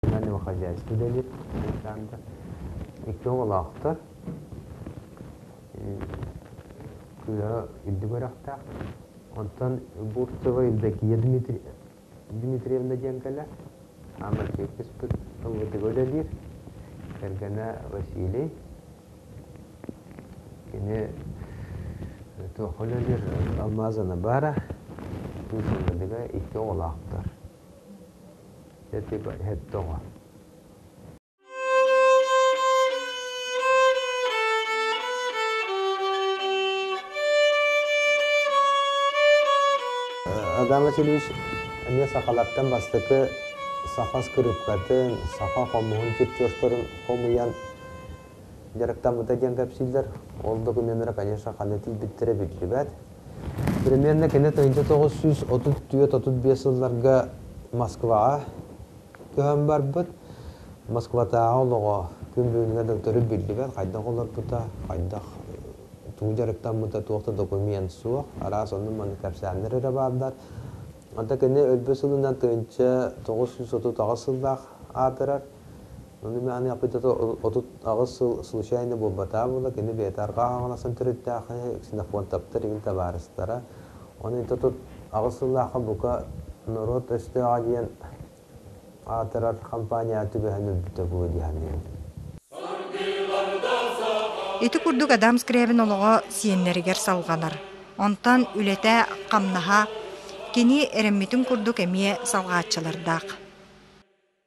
Мин эмиэ хозяйство үлэлиир уһуйаан да икки оҕолоохтор. Кыыһа үрдүк үөрэхтээх. Онтон Бурцева Евдокия Дмитри... Дмитриевна диэн кэлэр. Хаамар чиэпписпит ыллытыга үлэлиир. Кэргэнэ Василий. Кини туохха үлэлиир Алмаз Анабара. Кыыс Ындыга икки оҕолоохтор. Эти оҕо Адам Васильевич эмиэ сахалартан бастакы саха скрипкатын, саха хомуһун чертежтарын хомуйан дьарыктаммыта диэн кэпсииллэр. Ол докумуоннара, конечно, ханна тиийбиттэрэ биллибэт. Примерно кини тыһыынча тоҕус сүүс отут түөрт отут биэс сылларга Москваҕа көһөн барбыт. Москватааҕы олоҕо күн бүгүнүгэр да төрүт биллибэт, хайдах олорбута, хайдах тугу дьарыктаммыта, туох да документ суох, араас онну-манны кэпсээннэр эрэ бааллар. Онто кини өлбүт сылынан тыһыынча тоҕус сүүс отут аҕыс сыллаах аатырар. Ону аны аппыйдата отут аҕыс сыл случайно буолбатаа буола, кини бэйэтэ арҕаа хаҥаластан төрүттээхи ксенофонт таптар игин табаарыстара. Оны ит отут аҕыс сыллаахха бука норуот өстөөҕө диэн аатырар компания түбэһэн өлбүтэ буолуо диһаныым. Ити курдук Адам Скрябин олоҕо сиэннэригэр салҕанар. Онтон үлэтэ, хамнаһа кини эрэммитин курдук эмиэ салҕааччылардаах.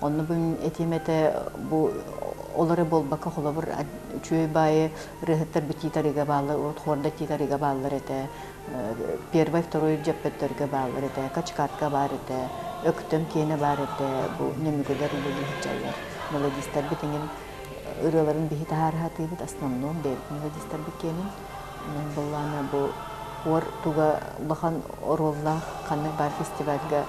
Онно этиим этэ бу ол эрэ буолбакка холобур үчүгэй баайы ырыаһыттар тиитарыга бааллар урут хорда тиитарыга бааллар этэ первый второй дьэппөттөргө бааллар этэ качкатка баар этэ өктөм киэнэ баар этэ бу нөмүгүлэр үлэлии сылдьаллар мелодистарбыт эҥин ырыаларын биһи таһаарыһатыыбыт основном бэйэбит мелодистарбыт киэнин Былаана бу уор туга улахан оруоллаах ханнык баар фестивальга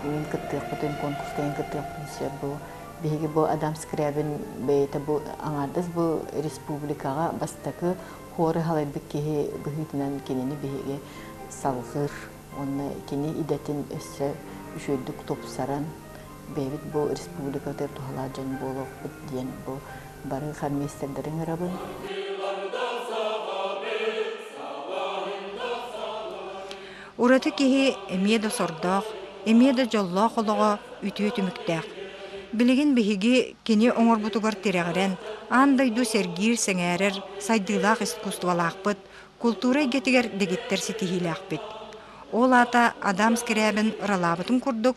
мин кыттыахпытын конкурска ин кыттыахпытын сөп бу биһиги бу Адам Скрябин бэйэтэ бу аҥаардас бу республикаҕа бастакы хору халайбыт киһи быһыытынан кинини биһиги салҕыыр уонна кини идэтин өссө үчүөйдүк тупсаран бэйэбит бу республикатыгар туһалаах дьон буолуохпут диэн бу бары хормейстердэрин ыҥырабын. Ураты киһи эмиэ да сордоох, эмиэ да дьоллоох олоҕо үтүө түмүктээх. Билигин биһиги кини оҥорбутугар тирэҕирэн, аан дойду сэргиир, сэҥээрэр сайдыылаах искусстволаахпыт, култуура эйгэтигэр дэгиттэр ситиһиилээхпит. Ол аата Адам Скрябин ыралаабытын курдук,